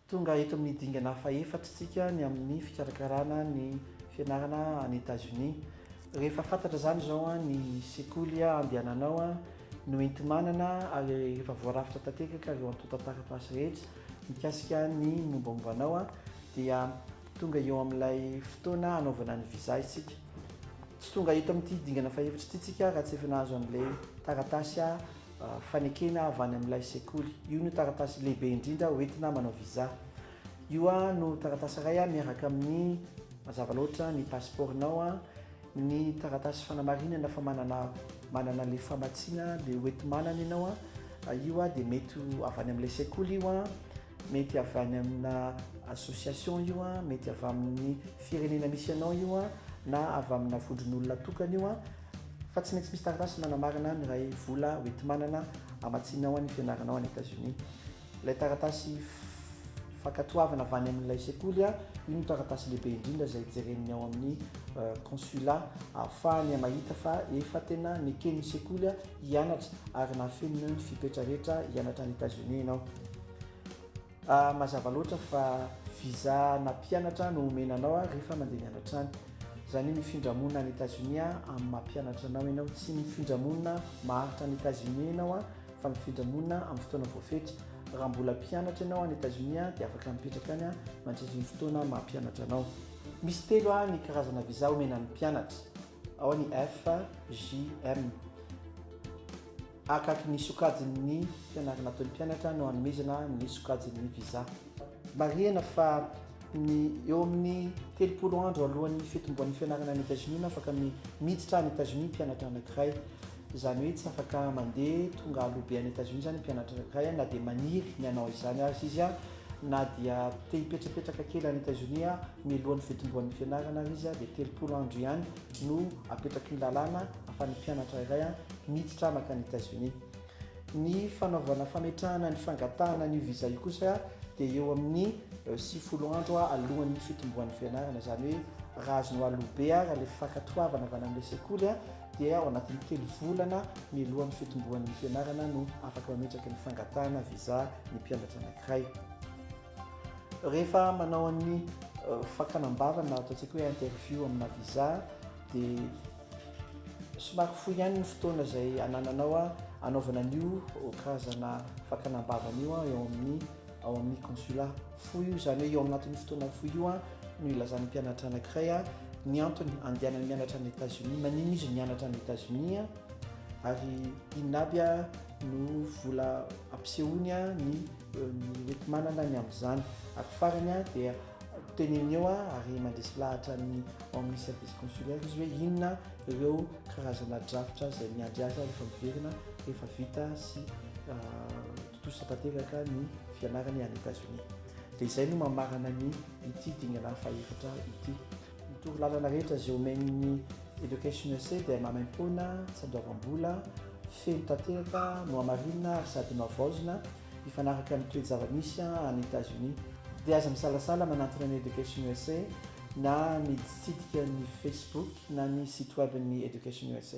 Tonga eto amin'ny dingana fahefatra isika ny amin'ny fikarakarana ny fianarana any Etazonia. Rehefa fantatra izany izao ny sekoly andehananao no enti-manana ary rehefa voarafitra tanteraka ireo antontan-taratasy rehetra mikasika ny mombamomba anao dia tonga eo amin'ilay fotoana hanaovana ny visa isika. Tsy tonga eto amin'ity dingana fahefatra ity isika raha tsy efa nahazo an'ilay taratasy fanekena avy any amin'ilay sekoly. Io no taratasy lehibe indrindra hoentina manao visa. Io no taratasy iray miaraka amin'ny mazava loatra ny pasipaoronao, ny taratasy fanamarinana fa manana manana ilay famatsiana dia hoenti-manana ianao. Io dia mety ho avy any amin'ilay sekoly io, mety avy any aminà association io, mety avy amin'ny firenena misy anao io na avy aminà vondron'olona tokana io. fa tsy maintsy misy taratasy manamarina ny iray vola hoenti-manana hamatsianao ny fianaranao any Etazonia. Ilay taratasy fankatoavana avy any amin'ilay sekoly, io no taratasy lehibe indrindra izay jeren'ny ao amin'ny kônsila ahafahany mahita fa efa tena neken'ny sekoly hianatra ary nahafeno ny fepetra rehetra hianatra any Etazonia ianao. Ah mazava loatra fa visa na mpianatra no omena anao ah rehefa mandeha mianatra any. Zany hoe mifindra monina any Etats Unis ah amin'ny maha mpianatra anao ianao. Tsy mifindra monina maharitra any Etats Unis ianao ah fa mifindra monina amin'ny fotoana voafetra. Raha mbola mpianatra ianao any Etats Unis ah dia afaka mipetraka any ah mandritry ny fotoana maha mpianatra anao. Misy telo ah ny karazana visa omena ny mpianatra. Ao ny F, J, M. Akaky ny sokajin'ny fianarana ataon'ny mpianatra no anomezana ny sokajin'ny visa. Marihina fa ny eo amin'ny telopolo andro alohan'ny fitomboan'ny fianarana any Etazonia no afaka miditra any Etazonia ny mpianatra anankiray. Izany hoe tsy afaka mandeha tonga aloha be any Etazonia izany ny mpianatra anankiray na dia maniry ny hanao izany aza izy na dia te-hipetrapetraka kely any Etazonia mialohan'ny fitomboan'ny fianarana ary izy dia telopolo andro ihany no apetraky ny lalàna ahafahan'ny mpianatra iray miditra makany États-Unis. Ny fanaovana fametrahana ny fangatahana an'io visa io kosa dia eo amin'ny sivifolo andro alohan'ny fitomboan'ny fianarana, izany hoe raha azonao aloha be ary ilay fankatoavana avy any amin'ilay sekoly dia ao anatin'ny telo volana mialohan'ny fitomboan'ny fianarana no afaka mametraka ny fangatahana visa ny mpianatra anankiray. Rehefa manao an'ny fakana am-bava na ataontsika hoe interview amina visa dia somary fohy ihany ny fotoana izay anananao hanaovana an'io karazana fakana am-bava an'io eo amin'ny ao amin'ny consulat. Fohy io izany hoe eo anatin'io fotoana fohy io no ilazan'ny mpianatra anankiray ny antony andehanany mianatra any États-Unis, maninona izy mianatra any États-Unis ary inona aby no vola ampisehoany ny Mety manana ny amin'izany. Ary farany an, dia teneno eo an, ary mandresy lahatra ny ao amin'ny service consulaire izy hoe inona ireo karazana drafitra izay miandry azy rehefa miverina, rehefa vita sy tontosa tanteraka ny fianarany any Etazonia. Dia izay no mamarana ny ity dingana faha-efatra ity. Ny torolalana rehetra izay omen'ny Education SA dia maimaimpoana, tsandoavam-bola, feno tanteraka, nohamarinina ary sady nohavaozina, mifanaraka amin'ny toe-java-misy any Etazonia. Dia aza misalasala manantona ny Education SA na miditsidika ny Facebook na ny site web-n'ny Education SA.